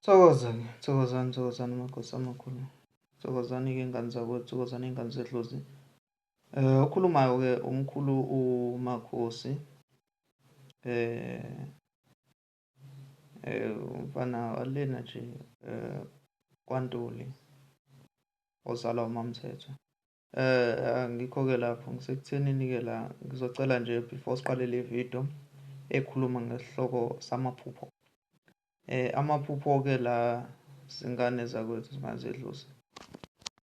Thokozani, thokozani, thokozani amakhosi amakhulu. Thokozani-ke ingane zakwethu, thokozani ingane zedlozi. Eh okhulumayo-ke umkhulu uMakhosi. Eh eh umfana walena nje eh kwaNtuli ozalwa uMamthethwa. Eh ngikho-ke lapho ngisekuthenini-ke la ngizocela nje before siqale le video ekhuluma ngesihloko samaphupho. Eh amaphupho-ke la zingane zakwethu zingazedlusa.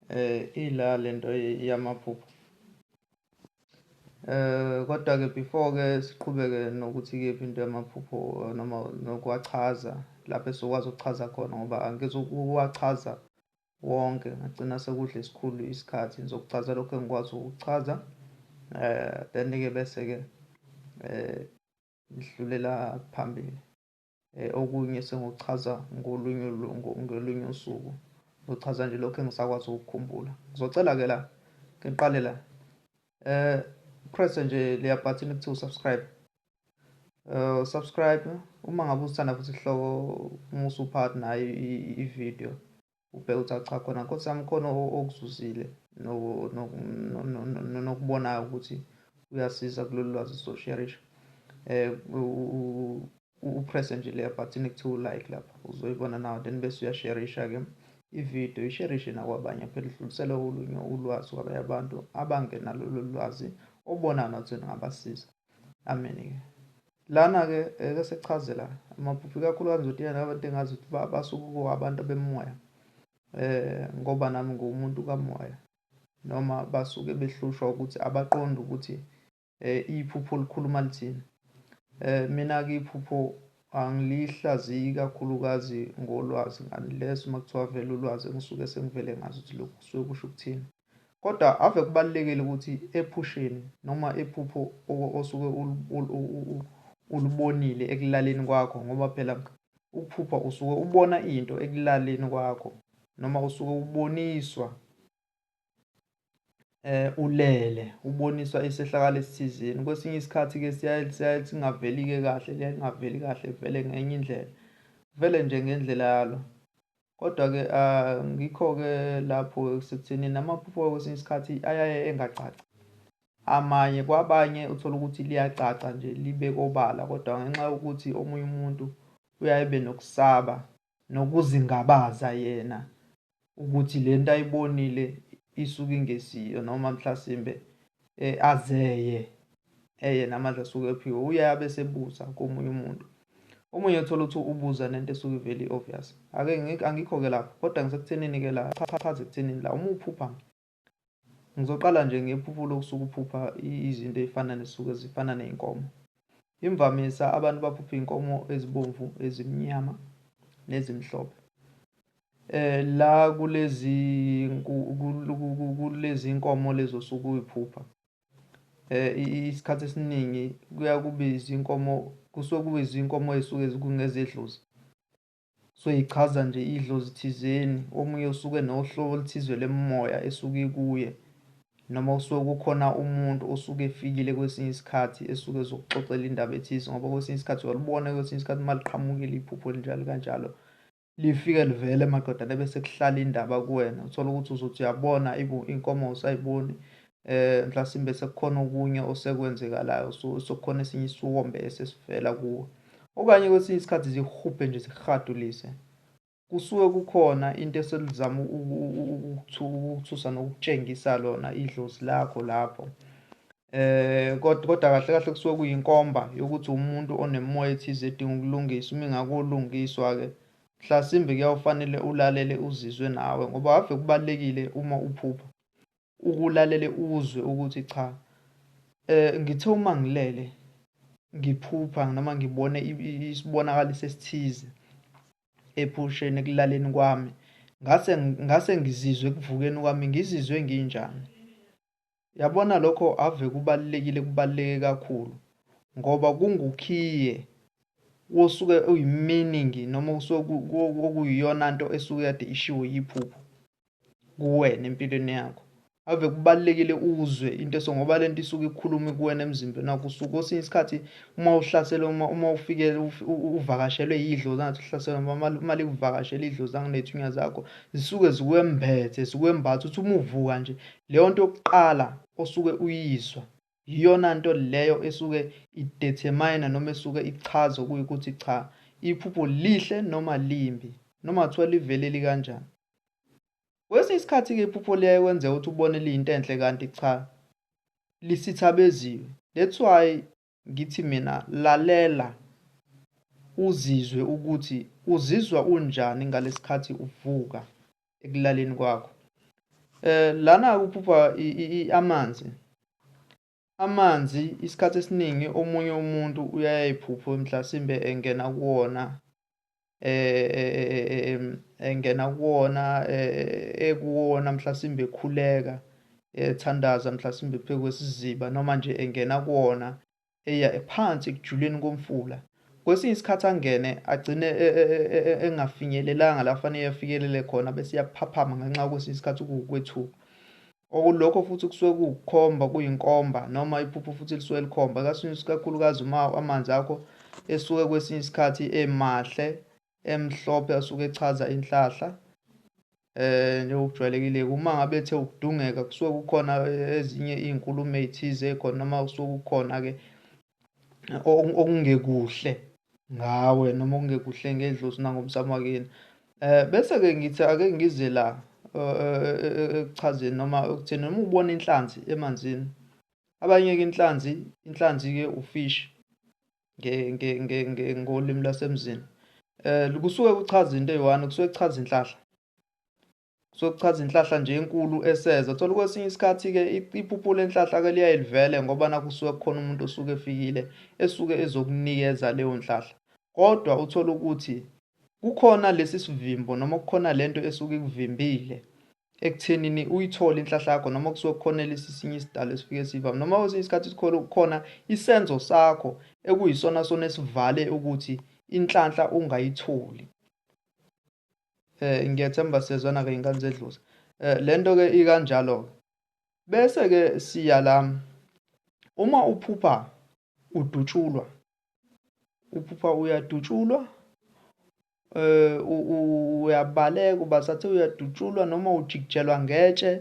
Eh ila lento yamaphupho. Eh kodwa-ke before-ke siqhubeke nokuthi kephi into yamaphupho noma nokuwachaza lapho esizokwazi ukuchaza khona ngoba angizukuwachaza wonke ngagcina sekudla isikhulu isikhathi ngizokuchaza lokho engikwazi ukuchaza eh then ke bese ke eh ngidlulela phambili eh okunye sengochaza ngolunye ngolunye usuku ngichaza nje lokho engisakwazi ukukhumbula ngizocela ke la ngiqale la eh press nje leya button ekuthiwa subscribe uh, subscribe uma ngabe usithanda futhi sihloko uma usuphathi nayo i-video ubheke ukuthi acha khona nkosi yami khona okuzuzile nokubonayo ukuthi uyasiza kulolu lwazi sosharisha eh, um upresse nje leya button ekuthiwa ulike lapha uzoyibona nawo then bese uyasharisha-ke ividiyo isherishe nakwabanye phela idlulisele olunye ulwazi kwabanye abantu abangenalolu lwazi obona nothi ningabasiza Amen-ke. Lana-ke eke eh, sekuchaze la amaphupho ikakhulukazi nje yena abantu engazi ukuthi basuke kuwabantu bemoya eh ngoba nami ngumuntu kamoya noma basuke behlushwa ukuthi abaqonde ukuthi eh iphupho likhuluma lithini eh mina ke iphupho anglihlaziyi kakhulukazi ngolwazi unless uma kuthiwa vele ulwazi engisuke sengivele ngazi ukuthi lokhu kusuke kusho ukuthini Kodwa ave kubalulekile ukuthi ephusheni noma iphupho osuke ulubonile ekulaleni kwakho ngoba phela ukuphupha usuke ubona into ekulaleni kwakho noma usuke uboniswa eh ulele uboniswa isehlakalo esithizeni kwesinye isikhathi ke siyaye siyaye singaveli ke kahle liyangaveli kahle vele ngenye indlela vele nje ngendlela yalo Kodwa-ke ngikho-ke lapho-ke sekutheni namaphupho kwesinye isikhathi ayaye engacaci. Amanye kwabanye uthola ukuthi liyacaca nje libe kobala kodwa ngenxa yokuthi omunye umuntu uyaye ebe nokusaba nokuzingabaza yena ukuthi le nto ayibonile isuke ingesiyo noma mhlasimbe eh, azeye eye namandla asuke ephiwe uye abe sebuza komunye umuntu omunye uthola ukuthi ubuza nento esuke ivele i-obvious ake angikho-ke lapho kodwa ngisekuthenini-ke la chachaze ekuthenini la uma uphupha ngizoqala nje ngephupho lokusuke uphupha izinto ey'fana nesuke zifana ney'nkomo Imvamisa abantu baphupha iy'nkomo ezibomvu, ezimnyama nezimhlophe. La kulezi kulezi nkomo lezi osuke uy'phupha isikhathi esiningi kuya kube izinkomo kusuke kube izinkomo ey'suke kungezedlozi. Kusuke ichaza nje idlozi thizeni, omunye usuke nohlobo oluthize lemimoya esuke ikuye noma usuke kukhona umuntu osuke efikile kwesinye isikhathi esuke ezokuxoxela indaba ethize ngoba kwesinye isikhathi uyalibona kwesinye isikhathi uma liqhamukile iphupho linjalo kanjalo lifike livele maqedane bese kuhlala indaba kuwena uthole ukuthi uzothi uyabona inkomo usayiboni eh mhlasimbe sekukhona okunye osekwenzekalayo so sokukhona esinye isiwombe esesivela kuwe okanye kwesinye isikhathi zihubhe nje zihadulise kusuke kukhona into eselizama ukuthusa nokutshengisa lona idlozi lakho lapho eh kodwa kodwa kahle kahle kusuke kuyinkomba yokuthi umuntu onemoya ethize edinga ukulungiswa uma ingakolungiswa ke mhlasimbe kuyawufanele ulalele uzizwe nawe ngoba ave kubalekile uma uphupha ukulalele uzwe ukuthi cha eh ngithe uma ngilele ngiphupha noma ngibone isibonakaliso esithize ephusheni ekulaleni kwami ngase ngase ngizizwe kuvukeni kwami ngizizwe nginjani yabona lokho ave kubalekile kubaleke kakhulu ngoba kungukhiye wosuke uyimeaning noma usuke okuyiyona nto esuke yade ishiwo yiphupho kuwena empilweni yakho ave kubalekile uzwe into eso ngoba lento isuke ikhuluma kuwena emzimbeni wakho usuke osinye isikhathi uma uhlasela uma uma ufike uvakashelwe idlozi ngathi uhlasela uma uma likuvakashela idlozi anginethunya zakho zisuke zikwembethe zikwembatha uthi uma uvuka nje leyo nto yokuqala osuke uyizwa Yiyona nto leyo esuke ideterminer noma esuke ichaza okuyikuthi cha iphupho lihle noma limbi noma kuthiwa livele likanjani. Kwesinye isikhathi-ke iphupho liyaye kwenzeka ukuthi ubone liyinto enhle kanti cha lisithabeziwe. That's why ngithi mina lalela uzizwe ukuthi uzizwa unjani ngalesikhathi uvuka ekulaleni kwakho eh lana kuphupha amanzi amanzi isikhathi esiningi omunye umuntu uyayiphupho mhlasimbe engena kuwona eh, eh, eh engena kuwona eh, ekuwona mhlasimbe ekhuleka ethandaza mhlasimbe pheku kwesiziba noma nje engena kuwona eya ephansi ekujuleni komfula. Kwesinye isikhathi angene agcine e, e, e, engafinyelelanga la kufanele afikelele khona bese iyaphaphama ngenxa kwesinye isikhathi kuwukwethuka. Okulokho futhi kusuke kuwukukhomba kuyinkomba noma iphupho futhi lisuke likhomba kakhulukazi uma amanzi akho esuke kwesinye isikhathi emahle emhlophe asuke echaza inhlahla eh njengokujwayelekile uma ngabe ethe ukudungeka kusuke kukhona eh, ezinye izinkulumo ezithize khona noma kusuke kukhona ke okungekuhle ngawe noma okungekuhle ngedlozi nangomsamo wakini eh bese ke ngithi ake ngize la ekuchazeni eh, eh, noma ekutheni noma ubona inhlanzi emanzini abanye ke inhlanzi inhlanzi ke ufish ngolimi lwasemzini um kusuke kuchaza into eyi-one kusuke kuchaza inhlahla kusuke kuchaza inhlahla nje enkulu eseza thola kwesinye isikhathi-ke iphupho lenhlahla-ke liyaye livele ngoba nakusuke kukhona umuntu osuke efikile esuke ezokunikeza leyo nhlahla kodwa uthole ukuthi kukhona lesi sivimbo noma kukhona lento esuke ikuvimbile ekuthenini uyithole inhlahla yakho noma kusuke kukhona lesi sinye isidalo esifike sivame noma kwesinye isikhathi sikhona kukhona isenzo sakho ekuyisona sona esivale ukuthi inhlanhla ungayitholi eh ngiyethemba sezwana ke ingane zedluza eh lento ke ikanjalo ke bese ke siya la uma uphupha udutshulwa uphupha uyadutshulwa eh, uyabaleka ubasathi uyadutshulwa noma ujikijelwa ngetshe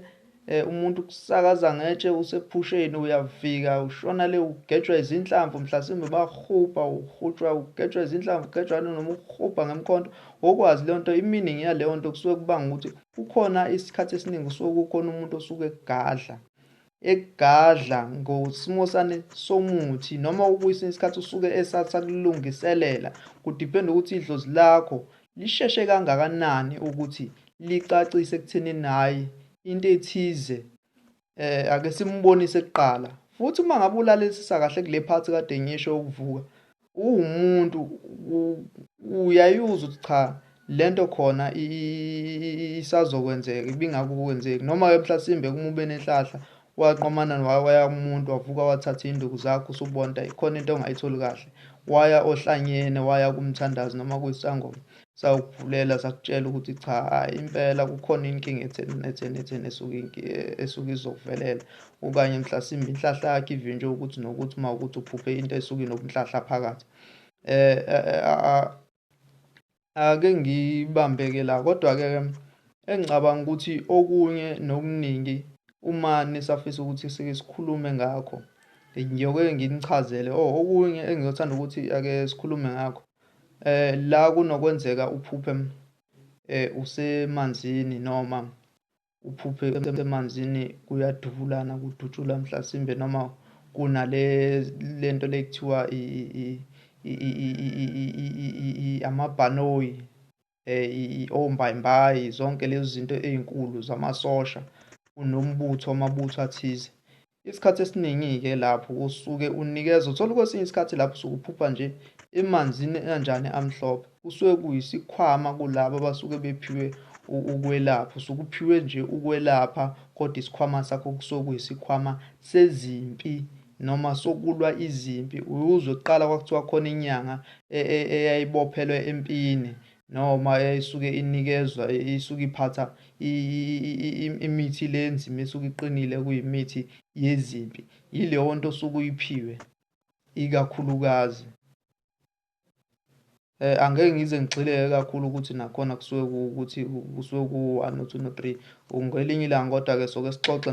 eh, umuntu kusakaza ngetshe usephusheni uyafika ushona le ugejwa izinhlamvu mhlasimbe bahubha uhutshwa ugejwa izinhlamvu ugejwa noma uhubha ngemkhonto ngokwazi leyo nto iminingi yaleyo nto kusuke kubanga ukuthi kukhona isikhathi esiningi kusuke kukhona umuntu osuke egadla egadla ngosimosane somuthi noma ukuyisini isikhathi usuke esathi sakulungiselela kudipenda ukuthi idlozi lakho lisheshe kangakanani ukuthi licacise ekutheni hhayi into ethize eh ake simbonise kuqala futhi uma ngabe ulalelisisa kahle kule phathi kade ngisho ukuvuka uwumuntu uyayuza ukuthi cha lento khona isazokwenzeka ibingakukwenzeki noma-ke mhlasimbe uma ube nenhlahla waqomana waya kumuntu wavuka wathatha iy'nduku zakho usubona ukuthi khona into ongayitholi kahle waya ohlanyene waya kumthandazi noma kuyisangoma sawukuvulela sakutshela ukuthi cha hayi impela kukhona inkinga etheni netheni etheni esuke esuke izokuvelela okanye mhlasimbe inhlahla yakhe ivinjwe ukuthi nokuthi uma ukuthi uphuphe into esuke inobunhlahla phakathi eh, eh, eh ake ngibambeke la kodwa-ke engicabanga ukuthi okunye nokuningi uma nisafisa ukuthi sike sikhulume ngakho ngiyoke nginichazele or oh, okunye engiyothanda ukuthi ake sikhulume ngakho Eh la kunokwenzeka uphuphe eh usemanzini noma uphuphe emanzini kuyadubulana kudutshula mhlasimbe noma kunale lento lekuthiwa amabhanoyi eh, ombayimbayi zonke lezi zinto ey'nkulu zamasosha unombutho amabutho athize isikhathi esiningi-ke lapho usuke unikeza uthola kwesinye isikhathi lapho usuke uphupha nje emanzini anjani amhlophe kusuke kuyisikhwama kulabo abasuke bephiwe ukwelapha usuke uphiwe nje ukwelapha kodwa isikhwama sakho kusuke kuyisikhwama sezimpi noma sokulwa izimpi uyuzwe kuqala kwakuthiwa khona inyanga e, e, eyayibophelwe empini noma eyayisuke inikezwa isuke iphatha imithi le enzima esuke iqinile kuyimithi yezimpi yileyo nto osuke uyiphiwe ikakhulukazi Eh angeke ngize ngigxileke kakhulu ukuthi nakhona kusuke ukuthi kusuke ku-one no-two no-three ngelinye ilanga kodwa-ke soke sixoxe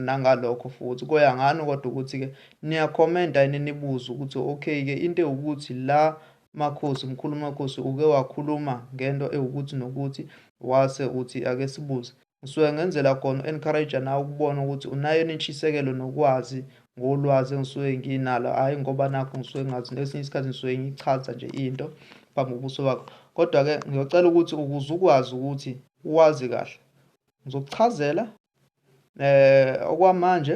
nangalokho futhi koya ngani kodwa ukuthi-ke niyakhomenta yini nibuze ukuthi okay-ke into ewukuthi la makhosi mkhulu makhosi uke wakhuluma ngento ewukuthi nokuthi wase uthi ake sibuze Ngisuke ngenzela khona u-encourage nawe ukubona ukuthi unayo intshisekelo nokwazi ngolwazi engisuke nginalo hhayi ngoba nakho ngisuke ngazi ngesinye isikhathi ngisuke ngichaza nje into phambi kobuso bakho kodwa-ke ngiyocela ukuthi ukuze ukwazi ukuthi uwazi kahle ngizokuchazela eh okwamanje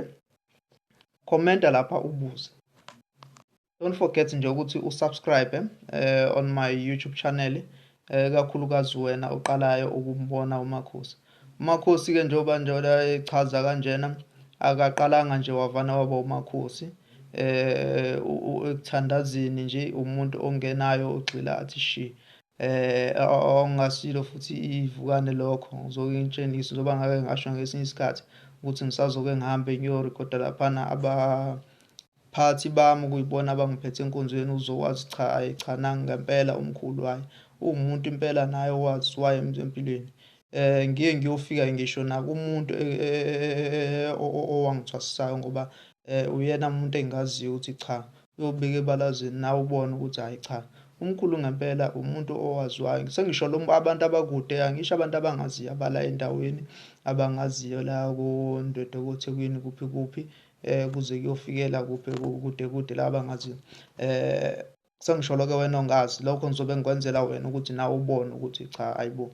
commenta lapha ubuze don't forget nje ukuthi usubscribe eh, on my youtube channel eh, kakhulukazi wena oqalayo ukumbona umakhosi umakhosi-ke njengoba njengoba echaza kanjena akaqalanga nje wavana waba umakhosi eh ekuthandazini nje umuntu ongenayo ogxila athi shi eh ongasilo futhi ivukane lokho ngizoke ngitshengise njengoba ngake ngasho ngesinye isikhathi ukuthi ngisazoke ngihambe ngiyorekhoda laphana aba Phathi bami kuyibona abangiphethe enkonzweni uzowazi cha ayi cha nangu ngempela umkhulu ayi uwumuntu impela naye owazi waye empilweni eh ngiye ngiyofika ngisho nakumuntu owangithwasisayo ngoba eh uyena umuntu engaziyo ukuthi cha uyobika ebalazini nawe ubone ukuthi hayi cha umkhulu ngempela umuntu owaziwayo sengisho abantu abakude angisho abantu abangaziyo abala endaweni abangaziyo la kondwedwe kothekwini kuphi kuphi eh kuze kuyofikela kuphi kude kude la bangaziyo eh sengisholo ke wena ongazi lokho ngizobe ngikwenzela wena ukuthi nawe ubone ukuthi cha ayibo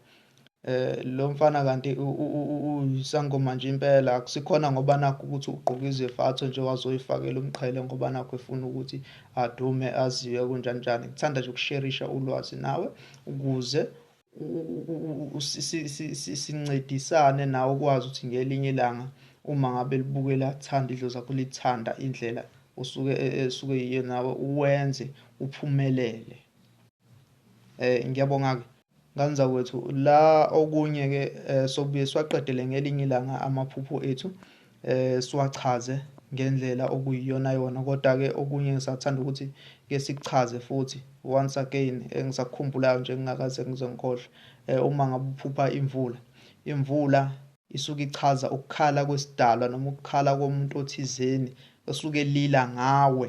eh lo mfana kanti uyisangoma nje impela akusikhona ngoba nakho ukuthi ugqoka izefatho nje wazoyifakela umqhele ngoba nakho efuna ukuthi adume aziwe kunjani njani ngithanda nje ukusherisha ulwazi nawe ukuze sincedisane nawe ukwazi ukuthi ngelinye ilanga uma ngabe libukela thanda idlo zakho lithanda indlela usuke e, e, esuke yiyo nawe uwenze uphumelele eh ngiyabonga ke nganza kwethu la okunye ke eh, sobuye siwaqedele ngelinye ilanga amaphupho ethu eh siwachaze ngendlela okuyiyonayona kodwa-ke okunye ngisathanda ukuthi ke sikuchaze futhi once again engisakukhumbulayo nje ngingakaze ngize ngikhohlwe eh, uma ngabe uphupha imvula imvula isuke ichaza ukukhala kwesidalwa noma ukukhala komuntu othizeni osuke lila ngawe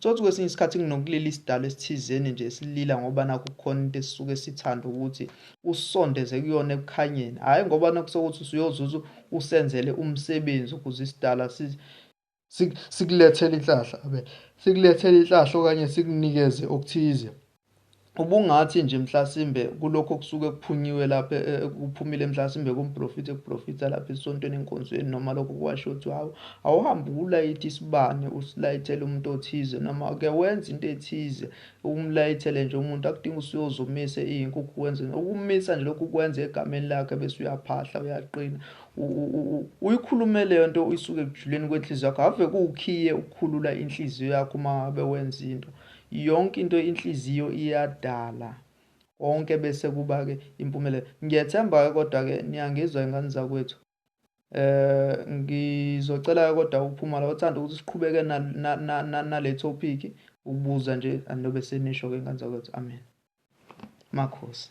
Tsotsi kwesinye isikhathi nginokulila isidalo esithizeni nje esilila ngoba nakho kukhona into esisuke sithanda ukuthi usondeze kuyona ekukhanyeni hhayi ngoba nakusokuthi usuyozuza usenzele umsebenzi ukuze isidala sikulethele inhlahla abe sikulethele inhlahla okanye sikunikeze okuthize ubungathi nje mhlasimbe kulokho kusuke kuphunyiwe lapha eh, eh, kuphumile mhlasimbe kumprofit ekuprofita lapha esontweni enkonzweni noma lokho kwasho ukuthi hawu awuhambe ulayithe isibane usilayithele umuntu othize noma ke wenza into ethize umlayithele nje umuntu akudinga usuyozomise iyinkukhu wenze ukumisa nje lokhu kwenza egameni lakhe bese uyaphahla uyaqina uyikhulume leyo nto uyisuke ekujuleni kwenhliziyo yakho ave kuwukhiye ukukhulula inhliziyo yakho uma ngabe wenza into Yonke into inhliziyo iyadala konke bese kuba ke impumelelo ngiyethemba ke kodwa ke niyangizwa ingane zakwethu eh ngizocela ke kodwa uphuma la uthanda ukuthi siqhubeke na na, na, na, na le topic ukubuza nje anobe senisho ke ingane zakwethu amen makhosi